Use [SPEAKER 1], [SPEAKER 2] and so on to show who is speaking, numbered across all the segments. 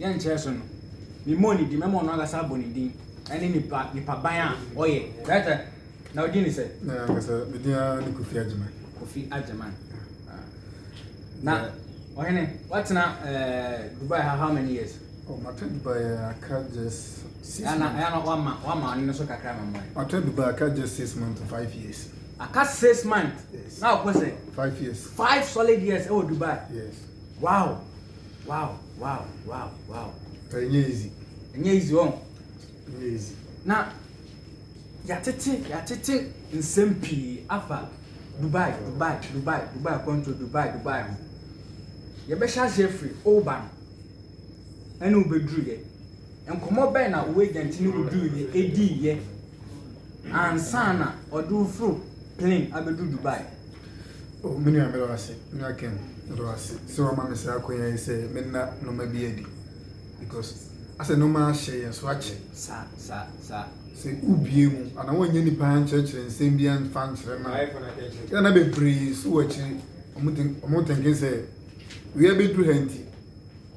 [SPEAKER 1] yɛ nkyerɛ so no, memmɔɔ ne din, mɛma ɔno ankasa abɔ ne din ne nipa nipaban a ɔyɛ. Dɛtɛ, na ɔdin ne sɛ? Na ankasa me din ara ne Kofi Agyeman. Kofi Agyeman. Ah. Na ɔhene, watena eh, Dubai ha how many years? Oh, matra Dubai
[SPEAKER 2] eh, aka just six Ɛna months. ɛna wama
[SPEAKER 1] wama
[SPEAKER 2] ɔne no
[SPEAKER 1] so kakra ma mmɔe. Matra Dubai aka
[SPEAKER 2] just six months to five years. Aka six
[SPEAKER 1] months. Yes. Na ɔpɛ sɛ Five years. five
[SPEAKER 2] solid years
[SPEAKER 1] ɛwɔ Dubai. Yes. Wow. wow wow wow
[SPEAKER 2] wow. ɛnyɛ easy. ɛnyɛ easy wɔn.
[SPEAKER 1] ɛnyɛ easy.
[SPEAKER 2] na
[SPEAKER 1] yɛatete yɛatete nsɛm pii afa dubai dubai dubai dubai kɔntro dubai dubai ho yɛbɛhyɛ aseɛ firi oba no ɛne wobɛduruyɛ Nkɔmmɔ bɛn na wo agent ne wo duruiɛ diiɛ ansa na ɔde wo foro plane abɛduru Dubai? Oh, me
[SPEAKER 2] nua, meda wo ase. Me nua Ken, meda wo ase sɛ woama me saa akɔnya yi sɛ menna nnoɔma bi adi. Because asɛ nnoɔma ahyɛ yɛn so akyɛ. Sa, sa,
[SPEAKER 1] sa.
[SPEAKER 2] Sɛ wobue mu anaa wonyɛ nipa ankyerɛkyerɛ nsɛm bi anfa ankyerɛ no a, yɛ na bebree so wɔ akyiri, wɔn thinking sɛ wei abɛduru ha nti,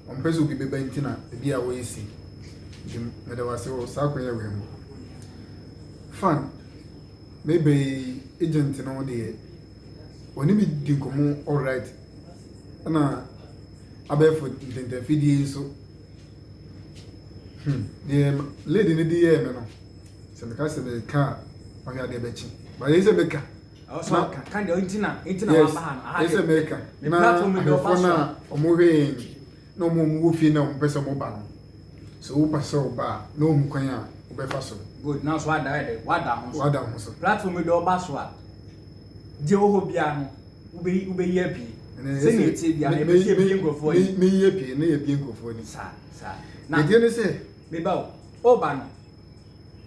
[SPEAKER 2] Ɔmpɛ sɛ obi bɛba nti na ebi a wɔyɛ si. Nti meda wo ase wɔ saa kwan wei ho. Fan, me bɛ yi agent no deɛ, wɔne me di nkɔmmɔ all right. Ɛna abɛɛfo ntɛntɛmfidie yi so. Hmm, deɛ lady no de yɛɛ me no, sɛ meka sɛ meka a, ɔhwɛ adeɛ bɛkye. Bayɛ sɛ meka.
[SPEAKER 1] na yes ɛsɛ mɛka na
[SPEAKER 2] ahwɛfoɔ no a ɔmo hwɛ yɛn na ɔmo ɔmo wɔ fie na ɔmo pɛ sɛ ɔmo ba no sɛ wo pa sɛ ɔba a na ɔmo kwan a ɔbɛfa so. good na so wada ɛdɛ
[SPEAKER 1] wada ho so wada ho so platform yi de ɔba
[SPEAKER 2] so a
[SPEAKER 1] deɛ wɔ hɔ biara no wobɛyi wobɛyi apie sɛ ne etie biara yɛ bɛsi ebie nkurɔfoɔ yi meyi apie na yɛ bie
[SPEAKER 2] nkurɔfoɔ ni saa saa na
[SPEAKER 1] ɛdeɛ ne
[SPEAKER 2] sɛ meba o
[SPEAKER 1] ɔba no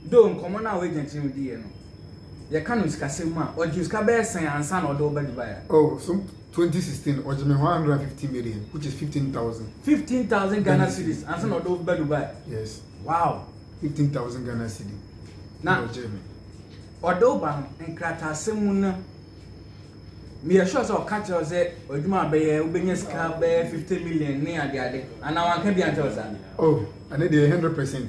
[SPEAKER 1] Though nkɔmmɔ no a w'agya kyerɛ no diiɛ no, yɛka no sikasɛm mu a, ɔgyee sika bɛyɛ sɛn ansa na ɔde wo ba Dubai a? Oh, so 2016,
[SPEAKER 2] ɔgyee me 150 million, which is 15,000.
[SPEAKER 1] 15,000 Ghana cedis ansa na ɔde wo ba Dubai? Yes. Wow! 15,000 Ghana
[SPEAKER 2] cedi na ɔgyee me.
[SPEAKER 1] Ɔde wo ba no, nkrataasɛm mu no, meyɛ sure sɛ ɔka kyerɛ wo sɛ adwuma a bɛyɛ wobɛnya sika bɛyɛ 50 million ne adeade anaa wanka bi ankyerɛ wo saa? Oh, ɛne
[SPEAKER 2] deɛ 100%.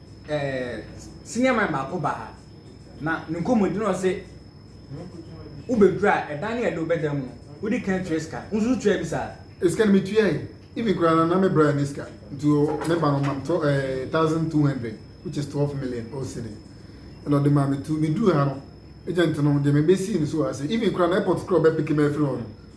[SPEAKER 2] ɛɛ
[SPEAKER 1] senior man baako baa ha na ne nkɔmmɔdi na ɔse wobɛduru a ɛdan no a ɛde wobɛda mu no wodi kan tua sika wo nso tua bi saa sika no metua yi
[SPEAKER 2] even koraa no na me bra ne sika nti me ba no ma me tɔ ɛɛ thousand two hundred which is twelve million o cedi ɛna ɔde maa me tu meduru ha no agent no deɛ mebɛsii no so ase even koraa no airport koraa ɔbɛpeke me afiri hɔ no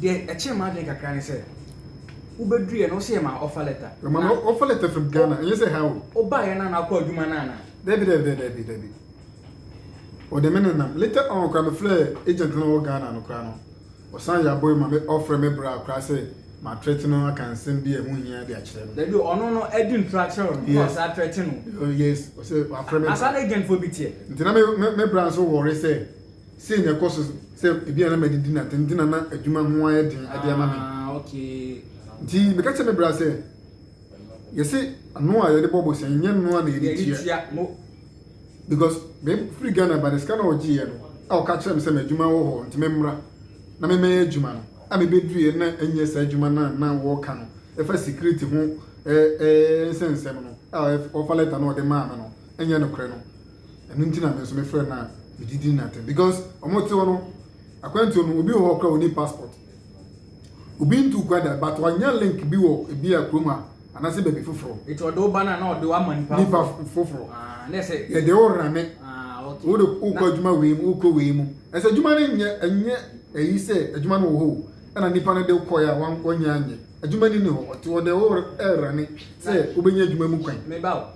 [SPEAKER 1] Deɛ ɛkyere m'adwene kakra ne sɛ wobɛduruiɛ no wo se yɛ maa offer letter. Yɛ maa no offer letter from
[SPEAKER 2] Ghana ɛnyɛ sɛ ha o. Wo baa yɛ na na akɔ adwuma
[SPEAKER 1] no ana. Dabi dabi dabi dabi
[SPEAKER 2] ɔde me nenam later on kora me frɛ agent no wɔ Ghana no kora no ɔsan yɛ abɔ yi ma me ɔfrɛ me bra kora sɛ ma threaten no aka nsɛm bi a ɛho hia de akyerɛ no. Dabi o ɔno no adi
[SPEAKER 1] ntura akyerɛ no na ɔsan threaten no. Oh yes ɔsɛ
[SPEAKER 2] wafrɛ me bra. Asa na agent fo bi teɛ.
[SPEAKER 1] Nti na me bra
[SPEAKER 2] nso worry sɛ. Sei na ɛkɔ so sɛ ebia na madidi na dɛm nti na na adwuma ho ayɛ den de ama me.
[SPEAKER 1] Nti meka kyerɛ me
[SPEAKER 2] bra sɛ, Yɛse ano a yɛde bɔ bosea nyɛ ano a na yɛde tua. Because mefiri Ghana ba na sika na ɔgyeeɛ no a ɔka kyerɛɛ me sɛ m'adwuma wɔ hɔ nti memmra na memmɛyɛ adwuma no a mebeduruiɛ no na ɛnyɛ saa adwuma no a na wɔka no ɛfa security ho nsɛnsɛm no a ɔfa letter no a ɔde maa me no ɛnyɛ nokorɛ no. ɛno nti na me nso mefrɛ no a mede di n'atɛm because wɔte hɔ no akwantuo no obi wɔ hɔ kora wɔni passport obi ntu kwan da but wanya link bi wɔ ebi a kurom a anaasɛ baabi foforɔ nti ɔde wo ba no a na ɔde
[SPEAKER 1] wama nipa nipa foforɔ ah,
[SPEAKER 2] na ɛsɛ yɛde
[SPEAKER 1] wo rane
[SPEAKER 2] ah, wode
[SPEAKER 1] wokɔ adwuma
[SPEAKER 2] wei mu wokɔ wei mu ɛsɛ adwuma no nyɛ ɛnyɛ ɛyi sɛ adwuma no wɔ hɔ ɛna nipa no de kɔɛ a wanyɛ anyɛ adwuma ni ne hɔ ɔte ɔde wo rane sɛ wobɛnya adwuma mu kwan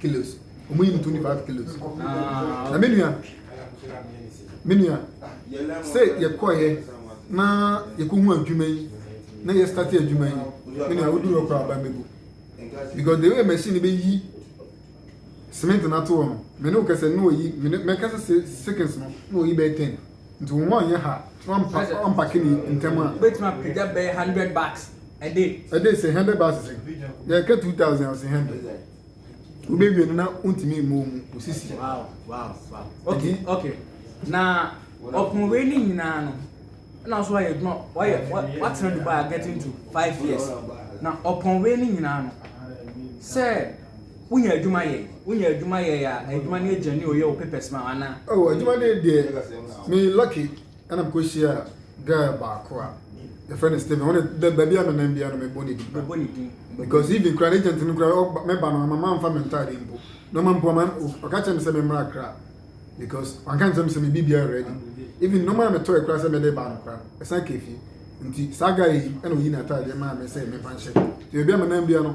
[SPEAKER 2] kilos ɔmo yi no twenty five kilos na me nua me nua sɛ yɛkɔɛ na yɛkɔ hu adwuma yi na yɛ start adwuma yi me nua wodu hɔ koraa aba megu because the way machine bɛ yi cement na to hɔ no me ne wo kɛsɛ ne wɔ yi me ne mɛ kɛsɛ seconds no ne wɔ yi bɛyɛ ten. Nti wo mma ɔnyɛ ha na wampa wampake ne ntɛm a. Wobɛtumi apagya bɛyɛ
[SPEAKER 1] hundred bucks a day. A day sɛ hundred bucks sɛ
[SPEAKER 2] na ɛka two thousand a ɔsɛ hundred wobɛwie no na wontumi mmɔ mu osisi. Wow wow wow
[SPEAKER 1] okay okay na ɔpon wei ne nyinaa no na nso wayɛ adwuma wayɛ watena Dubai getting to five years na ɔpon wei ne nyinaa no sɛ. Wonya adwuma yɛ? Wonya adwuma yɛ a, adwuma no agya ni oyɛ wo papers ma wo ana? Oh adwuma no deɛ
[SPEAKER 2] me lucky ɛna me kɔ hyia girl baako a yɛfrɛ no Steven wɔn de baabi a me nan bia no me bɔ ne din bɛbɔ ne din because even kura ne agent no kura ɔba me ba no ama ma nfa me ntaade mpo na ɔma mpo ama ɔka kyerɛ me sɛ me mmra akra because wanka nkyerɛ me sɛ me biribi ayɛ ready even no ma me tɔ ɛkura sɛ me de ba no kura ɛsan kɛfi nti saa guy yi ɛna oyi na ataadeɛ maa me sɛ me fa nhyɛ nti baabi a me nan bia no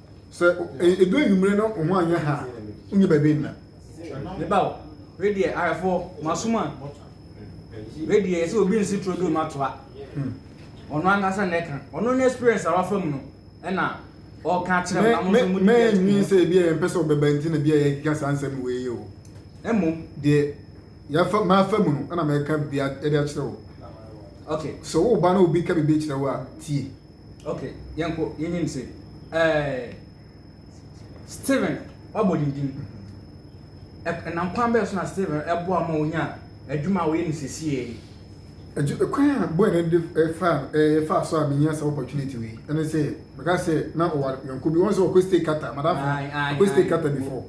[SPEAKER 1] sɛ
[SPEAKER 2] edu anwummere na wo ho anyɛ ha a wonyɛ baabi nna meba o
[SPEAKER 1] wei deɛ ayɛfoɔ masom a wei deɛ yɛsɛ obi nsi turo duro matoa hmm. ɔno ankasa na ɛka ɔno ne experience a wafa mu no ɛna ɔka kyerɛ mo na mo mɛnwi sɛ ebi a
[SPEAKER 2] yɛmpɛ sɛ ɔbɛba nti na bi a yɛkeka saa nsɛm wei o ɛmmom deɛ yɛfa mafa mu no ɛna mɛka bia ɛde akyerɛ wo okay so
[SPEAKER 1] wo ba na obi
[SPEAKER 2] ka biribi kyerɛ wo a tie ok
[SPEAKER 1] yɛnkɔ yɛnyim se ɛɛ steven wabɔ ne din ɛnam kwan bɛyɛ so na steven ɛboa ma onya adwuma a wɔyɛ no sesie yi adwuma kwan
[SPEAKER 2] a bɔyɛ no de ɛfa ɛfa so a menya sɛ opportunity wei ɛne sɛ meka sɛ na ɔwa yɔnko bi wɔn sɛ ɔkɔ stay kata madafo ɔkɔ stay kata before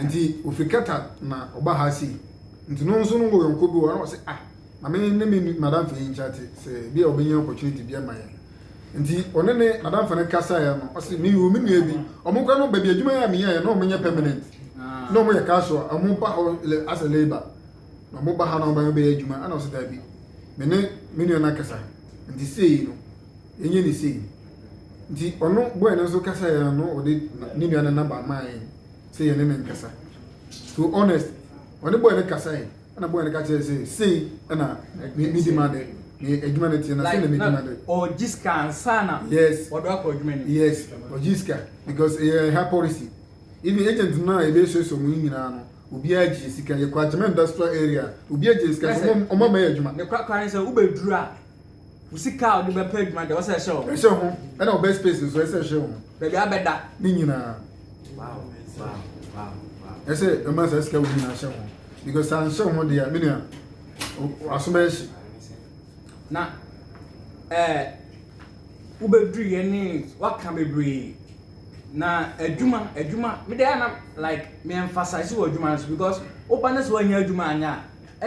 [SPEAKER 2] nti
[SPEAKER 1] ofiri kata
[SPEAKER 2] na ɔba ha sei nti no nso no wɔ yɔnko bi wɔ na ɔsɛ ah ma me ne me madamfo yi nkyate sɛ bi a ɔbɛnya opportunity bi ama yɛn nti ɔne ne madamfo no kasaeɛ no ɔse me wɔ me nua bi ɔmo kora no baabi adwuma yɛ a meyɛɛ na ɔmo nyɛ permanent na ɔmo yɛ casual ɔmo ba hɔ as a labor na ɔmo ba ha na ɔmo bɛyɛ adwuma ɛna ɔse daabi me ne me nua no akasa nti sei no yɛnyɛ ne sei nti ɔno boy no nso kasaeɛ no ɔde ne nua no namba maa yɛn sɛ yɛne ne nkasa to honest ɔne boy no kasaeɛ ɛna bɔyɛ no ka kyerɛ sɛ sei ɛna medi ma de ne adwuma no teɛ na sei na medi ma de ɔgye sika ansa
[SPEAKER 1] na yes ɔde akɔ adwuma
[SPEAKER 2] no yes
[SPEAKER 1] ɔgye sika
[SPEAKER 2] because ɛyɛ ha policy even agent no a ɛbɛsuasua mu nyinaa no obiara gye sika yɛ kwakyema industrial area obiara gye sika sɛ ɔma ma yɛ adwuma ne kwakwa ne sɛ wobɛduru
[SPEAKER 1] a Wo sika a wode bɛpɛ adwuma deɛ wɔsɛ ɛhyɛ wo ho. Ɛhyɛ ho. Ɛna wo bed
[SPEAKER 2] space nso ɛsɛ ɛhyɛ wo ho. Baabi a bɛda.
[SPEAKER 1] Ne nyinaa. Wow
[SPEAKER 2] wow wow wow. Ɛsɛ ɛma saa sika wo nyinaa hyɛ ho because saa nhyɛ ho deɛ menua aso bɛyɛ hye. Na
[SPEAKER 1] ɛɛ eh, wobɛduru yɛ ne waka bebree na adwuma adwuma mede ana like me emphasize wɔ adwuma no so because woba ne sɛ woanya adwuma anya a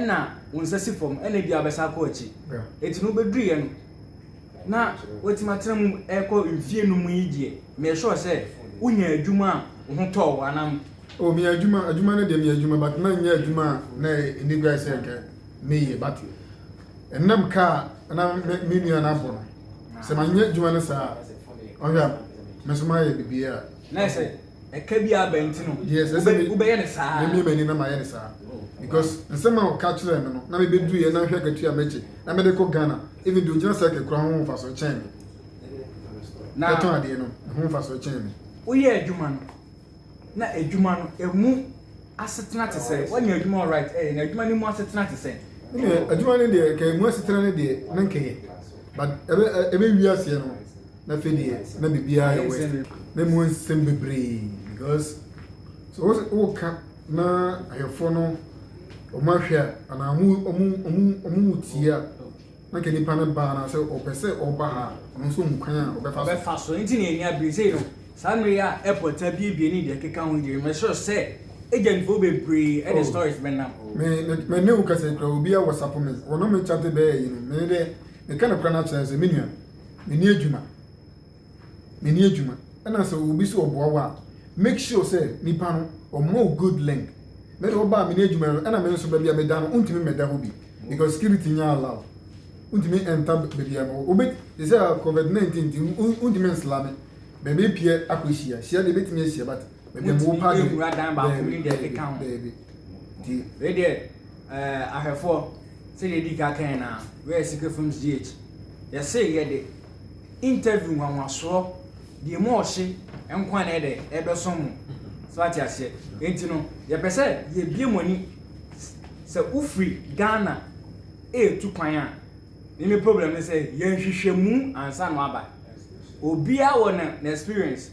[SPEAKER 1] na wo nsa si fam na ebi abɛsa akɔ akyi eti no wobɛduru yɛ no na watumi atena mu ɛkɔ mfie no mu yi deɛ meyɛ sure sɛ wonya adwuma a wo ho tɔɔ anam. o meyɛ adwuma
[SPEAKER 2] adwuma no deɛ meyɛ adwuma but na nyɛ adwuma a na ɛni gua sɛ nka meyɛ but ɛnam kaa na me nua no abɔ no sɛ manyɛ adwuma no saa ɔhwɛ a me nso mayɛ biribiara. na ɛsɛ
[SPEAKER 1] ɛka bi a bɛn nti no wobɛyɛ no
[SPEAKER 2] saa.
[SPEAKER 1] Memie m'ani na mayɛ no saa
[SPEAKER 2] because nsɛm a ɔka kyerɛɛ me no na mebɛduru yɛ na nhwɛ akatua a mɛgye na mede kɔ Ghana even deɛ ɔgyina cycle kura ho mfasoɔ kyɛn me na ɛtɔn adeɛ no ho mfasoɔ kyɛn me. Woyɛ adwuma no
[SPEAKER 1] na adwuma no ɛmu asetena te sɛ woanya adwuma alright ɛyɛ na adwuma no mu asetena te sɛ. Adwuma no deɛ
[SPEAKER 2] nka ɛmu asetena no deɛ na nkɛyɛ but ɛbɛ ɛbɛ wi aseɛ no. na afei deɛ na biribiara yɛ west na mu nsɛm bebree because sɛ wo woka na ahwɛfoɔ no wɔn ahwɛ a anaa wɔn wɔn wɔn wɔn mu tie a na nka nipa no baa na sɛ ɔpɛ sɛ ɔba ha a ɔno nso hu kwan a ɔbɛfa so ɔbɛfa so nti na yɛn nya
[SPEAKER 1] bere sei no saa mmere yi a airport abiebie ne deɛ ɛkeka ho deɛ mɛsrɛ sɛ agentfoɔ bebree ɛde Oh. stories bɛnam me me me ne wo kasa
[SPEAKER 2] kura obi a wɔsapo me wɔn me kyate bɛyɛ yi no me dɛ meka no kora no akyerɛ sɛ me nua Menni adwuma. Menni adwuma. Ɛna sɛ obi sɛ ɔboa wo a, make sure sɛ nipa no ɔma wo good link. Me de ɔbaa menni adwuma no, ɛna me nso baabi a meda no, wontumi mmɛda hɔ bi because security nyɛ allow. Wontumi ɛnta baabi a ma obi te sɛ covid 19 nti wontumi nslame baabi apue akɔhyia. Hyia deɛ ebɛtumi ahyia but motumi ɛwura dan baako mu deɛ
[SPEAKER 1] ɛkeka
[SPEAKER 2] ho wei deɛ
[SPEAKER 1] eh, ahwɛfoɔ sɛdeɛ ɛdi ka kan na wɛyɛ secret from gh yɛse yɛde interview nwanwasoɔ deɛ mu ɔhye nkwa na ɛdɛ ɛbɛso mu so ate aseɛ enti no yɛpɛ sɛ yɛbie mu ani sɛ wofiri ghana ɛretu kwan a ne me problem ne sɛ yɛnhwehwɛ mu ansa no aba obiara wɔ na experience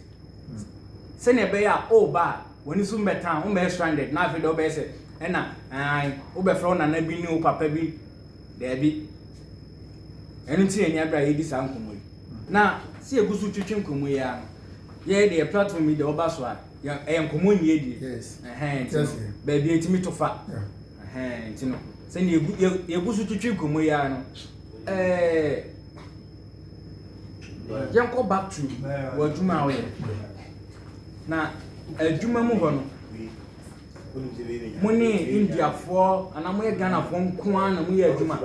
[SPEAKER 1] Sɛnea ɛbɛyɛ a woreba a, w'ani so mmɛtan, wommɛyɛ stranded, na afei deɛ wobɛyɛ sɛ ɛna ae, wobɛfrɛ wo nana bi ne wo papa bi. Daabi. Ɛno nti na ɛnyɛ berɛ a yɛredi saa nkɔmmɔ yi. Na sɛ yɛgu so twetwe nkɔmmɔ yi ara no, yɛyɛ deɛ yɛ platform yi deɛ woba so a, yɛ, ɛyɛ nkɔmmɔ nniadie. Yes. Ɛhɛn, nti no, Yes.
[SPEAKER 2] baabi
[SPEAKER 1] a ɛtumi to fa. Yeah. Ɛhɛn, nti no, sɛnea yɛgu, yɛ- yɛgu so twetwe nkɔmmɔ yi ara no, ɛɛ, Yɛnkɔ back to w'adwuma a woyɛ. Na adwuma mu hɔ no, mo ne Indiafoɔ anaa moyɛ Ghanafoɔ nko ara na moyɛ adwuma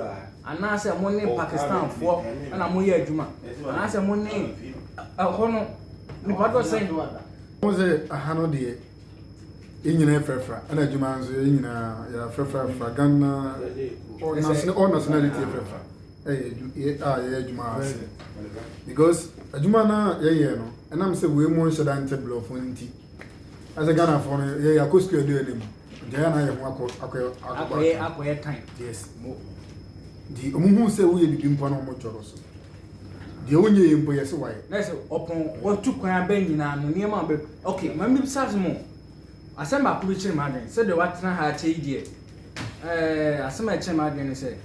[SPEAKER 1] anaasɛ mo ne Pakistanfoɔ na moyɛ adwuma anaasɛ mo ne ɛhɔ no nipa dɔ sɛn. Mo sɛ
[SPEAKER 2] aha no deɛ yɛn nyinaa yɛ frɛfra ɛna adwuma nso yɛn nyinaa yɛ frɛfra frɛfra Ghana all nationality yɛ frɛfra. yɛ adwu yɛ a yɛyɛ adwuma wɔ ase because adwuma no a yɛyɛ no ɛnam sɛ wei mu nhyɛ da nte borɔfo no nti ɛsɛ ghanafoɔ no yɛ yɛakɔ sukuu adu anim nti ɛyɛ na yɛ ho akɔ akɔ akɔ akɔyɛ akɔyɛ tan yes
[SPEAKER 1] mo
[SPEAKER 2] nti ɔmo hu sɛ woyɛ biribi mpo na ɔmo twɔrɔ so deɛ wonyɛ yɛ mpo yɛ sɛ wayɛ na sɛ ɔpɔn
[SPEAKER 1] wɔtu kwan abɛn nyinaa no nneɛma bɛ ok maame bi sa so mo Asɛm baako bi kyere m'adwene, sɛdeɛ woatena ha akyɛ yi deɛ, eh, asɛm a ɛkyere m'adwene ne sɛ,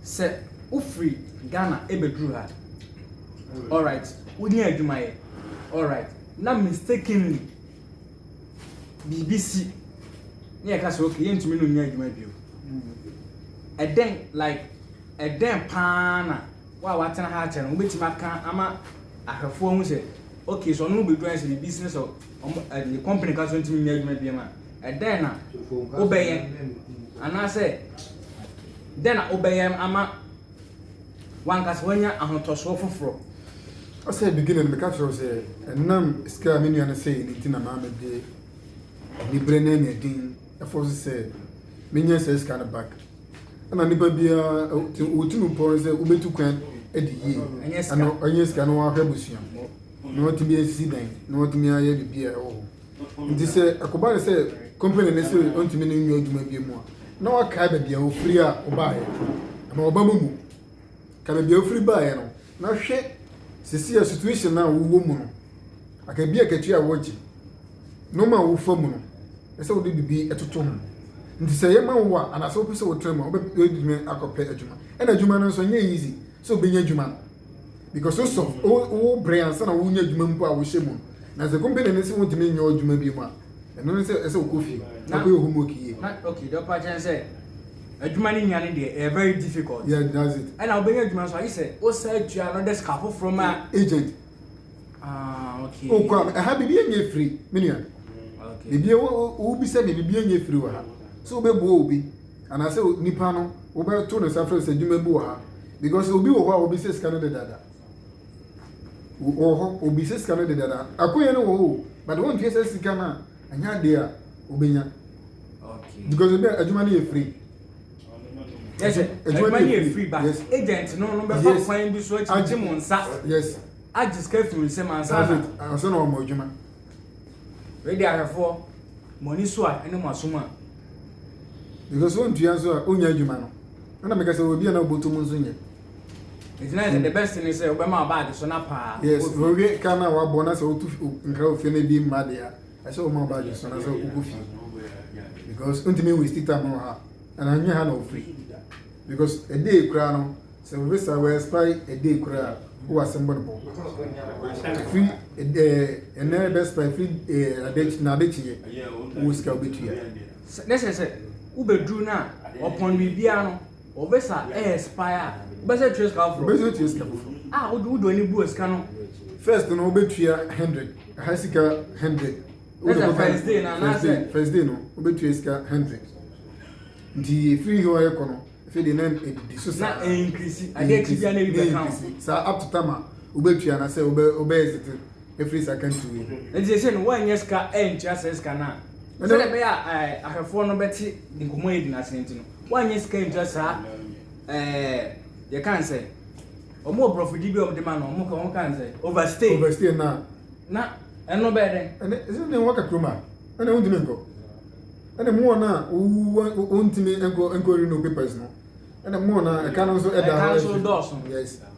[SPEAKER 1] sɛ wofiri Ghana ɛbɛduru ha, alright, wonya adwuma yɛ, alright, na mistakenly biribi si, na yɛka sɛ okay, yɛntumi no nya adwuma bio. Ɛdɛn, like, ɛdɛn paa na wo a woatena ha akyɛ no, wobɛtumi aka ama ahwɛfoɔ ho sɛ, okay, sɛ ɔno bɛduru ayɛ sɛ biribi si ne sɛ Ɔmo ɛɛ ne company ka so ntumi nyɛ adwuma biam a, ɛdɛn na wobɛyɛ anaasɛ dɛn na wobɛyɛ ama wankasa wanya ahotɔsoɔ foforɔ? As a
[SPEAKER 2] beginner no, meka kyerɛ wo sɛ ɛnam sika a me nua no sɛe no nti na maa mede anibere ne anyaden ɛfɔ so sɛ menya saa sika no back. Ɛna nipa biara wotumi pɔn sɛ wobetu kwan adi yie, ɛnyɛ sika na wahwɛ abusua. na watumi asisi dan, na watumi ayɛ biribi a ɛwɔ hɔ. Nti sɛ ɛkɔba no sɛ company no sɛ ɔntumi ne nyɛ adwuma bi mu a, na wakae baabi a ofiri a ɔbaeɛ. Ɛma ɔba mu mu. Ka baabi a ofiri baeɛ no, na hwɛ sisi a situation a wowɔ mu no, aka bi akatua a wogye, nneɛma a wofa mu no, ɛsɛ wode biribi ɛtoto ho. Nti sɛ yɛma wo a, anaasɛ wopɛ sɛ wotena mu a, wobɛtumi akɔpɛ adwuma. Ɛna adwuma no nso, ɛnyɛ easy. sɛ obenya adwuma no because wosɔ wo bere ansa na wonya adwuma mpo a wohyɛ mu na sɛ company no sɛ wontumi nyɛ adwuma bi mu a ɛno ne sɛ ɛsɛ wokɔ fie na kɔyɛ homework yie okay
[SPEAKER 1] dɛ ɔpa kyɛn sɛ adwuma no nya no deɛ ɛyɛ very difficult yeah that's it ɛna
[SPEAKER 2] wobɛnya adwuma nso agye
[SPEAKER 1] sɛ wosa atua another sika foforɔ ma agent
[SPEAKER 2] Ah,
[SPEAKER 1] okay. Okwa no, ɛha
[SPEAKER 2] biribi nyɛ firi, me nua. Okay. Biribi wobisa me biribi nyɛ firi wɔ ha. Sɛ wobɛboa obi anaasɛ nipa no wobɛto ne nsa frɛ sɛ adwuma bi wɔ ha because obi wɔ hɔ a obi sɛ sika no dedada. Wɔ hɔ obi sɛ sika no dedada. Akoyɛ no wɔ hɔ but wontie sɛ sika no a ɛnyɛ adeɛ a wobɛnya.
[SPEAKER 1] Okay. Because ebi adwuma
[SPEAKER 2] no yɛ firi.
[SPEAKER 1] yɛsɛ adwuma no yɛ free ba agent no no bɛfa kwan bi so akyigye mo nsa agye
[SPEAKER 2] sika firi
[SPEAKER 1] nsɛm ansa na ansa na wɔn adwuma wede ahwɛfoɔ mo ani so a ɛne mo asom a
[SPEAKER 2] because wɔn ntua nso a wɔnya adwuma no ɛna meka sɛ obi a na ɔbɔtɔ mu nso nyɛ ɛgyina
[SPEAKER 1] yɛ sɛ the best ne sɛ wobɛma baage so na paa yes wɔwie ka
[SPEAKER 2] na wabɔ na sɛ wotu nkra ofie no bi mma deɛ a ɛsɛ wɔn aba adwene so anaasɛ wokɔ fie because wontumi waste time wɔ ha and anyɛ ha na wofiri because a day koraa no sɛ visa wɔ expire a day koraa wowɔ asɛm bɔ no bɔ firi ɛnɛ bɛ expire firi adekyi na adekyiɛ wowɔ sika wobɛtua ne sɛ sɛ
[SPEAKER 1] wobɛduru no a ɔpɔn biribiara no Ɔbɛsa ɛyɛ spy a wobɛsɛ tua sika foforɔ. Wobɛsɛ tua sika foforɔ.
[SPEAKER 2] A wode wode w'ani
[SPEAKER 1] bu sika no. First no
[SPEAKER 2] wobɛtua hundred ɛha sika hundred. Ɛsɛ first
[SPEAKER 1] day na anaasɛ. First day no
[SPEAKER 2] wobɛtua sika hundred. Nti efiri hɔ ɛkɔ no afei de nan edidi so saa. Na ɛnkirisi
[SPEAKER 1] adeɛ ti bi a na ebi bɛ kan. Saa up to time a
[SPEAKER 2] wobɛtua na sɛ wobɛ wobɛ ɛsɛ ɛfiri sɛ akantuo yi ho. Nti sɛsɛ no woanyɛ sika
[SPEAKER 1] antua sɛ sika no a sɛdeɛ ɛbɛyɛ a ahwɛfoɔ no bɛte nkɔmmɔ yɛdi no ase nti no woanyɛ sika antua saa yɛka sɛ ɔmo wɔ borɔfo di bi ɔmo de ma no ɔmo ka ɔmo ka sɛ overstay overstay na na ɛno bɛyɛ dɛ ɛnɛ ɛsɛ ne wɔn ka kurom
[SPEAKER 2] a ɛnɛ wɔn ntumi nkɔ ɛnɛ mu wɔn a wɔn wɔn ntumi nkɔ nkɔ renew papers no ɛnɛ mu wɔn a ɛka no nso ɛda hɔ ɛka no nso dɔɔso yes.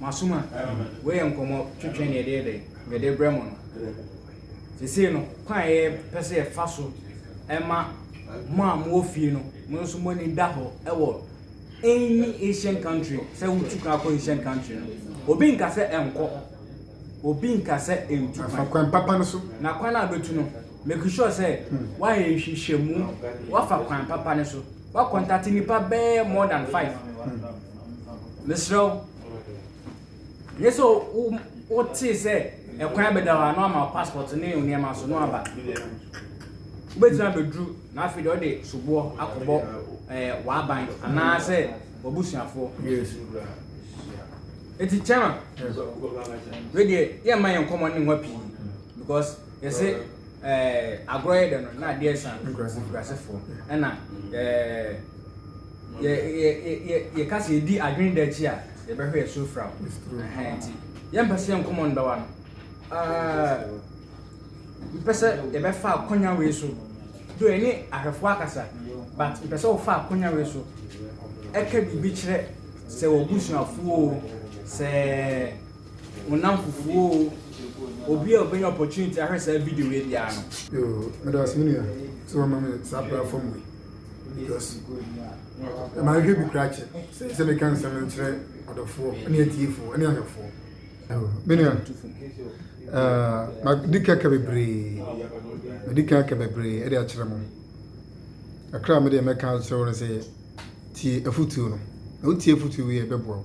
[SPEAKER 1] Masom a, wei yɛ nkɔmmɔ twetwe na yɛde yɛ dɛ, yɛde brɛ mo no. Sesei no, kwan a yɛpɛ sɛ yɛfa so ma mo a mowɔ fie no, mo nso mo ani da hɔ wɔ any Asian country sɛ wotu kwan akɔ Asian country no, obi nka sɛ ɛnkɔ, obi nka sɛ ɛntu kwan. Afa kwan papa no so.
[SPEAKER 2] Na kwan a bɛtu no,
[SPEAKER 1] make sure sɛ woayɛ nhwehwɛmu, woafa kwan papa no so, woakɔntate nnipa bɛyɛ more than five. mesrɛ wo nyɛ sɛ wotee sɛ ɛkwan bɛda hɔ a na ama passport ne nneɛma so no aba wobɛtumi abɛduru na afei deɛ ɔde soboɔ akɔbɔ eh, w'aban anaasɛ w'abusuafoɔ ɛti kyɛma wedeɛ yɛmma yɛ nkɔmmɔ ne nwa pii because yɛse eh, agorɔ yɛ dɛ no na adeɛ sa nkurasefoɔ ɛna eh, Yɛ yɛ yɛ yɛ yɛka sɛ yɛdi adwene da akyi a yɛbɛhwɛ yɛ so firaw. Ɛhɛn nti yɛmpɛ sɛ yɛn kɔmɔ ndɔwa no. Ɛɛ mpɛ sɛ yɛbɛfa akɔnya wei so do ɛne ahwɛfoɔ akasa but mpɛ sɛ wofa akɔnya wei so ɛka biribi kyerɛ sɛ w'abusuafoɔ o sɛ wo namfofoɔ o obi a obɛnya opportunity ahwɛ saa video wei biara no. Yoo, meda ase me nua
[SPEAKER 2] sɛ wama me saa platform wei. ɛma no hwɛ bi kora kyɛ sɛ meka nsɛm no nkyerɛ adɔfoɔ ne atiefoɔ ne ahwɛfoɔ menua madi ka ka bebree madi ka ka bebree ɛde akyerɛ mo kakra medeɛ mɛka kyerɛ wo no sɛ tie afotuo no na wotie afotuo yi ɛbɛboa wo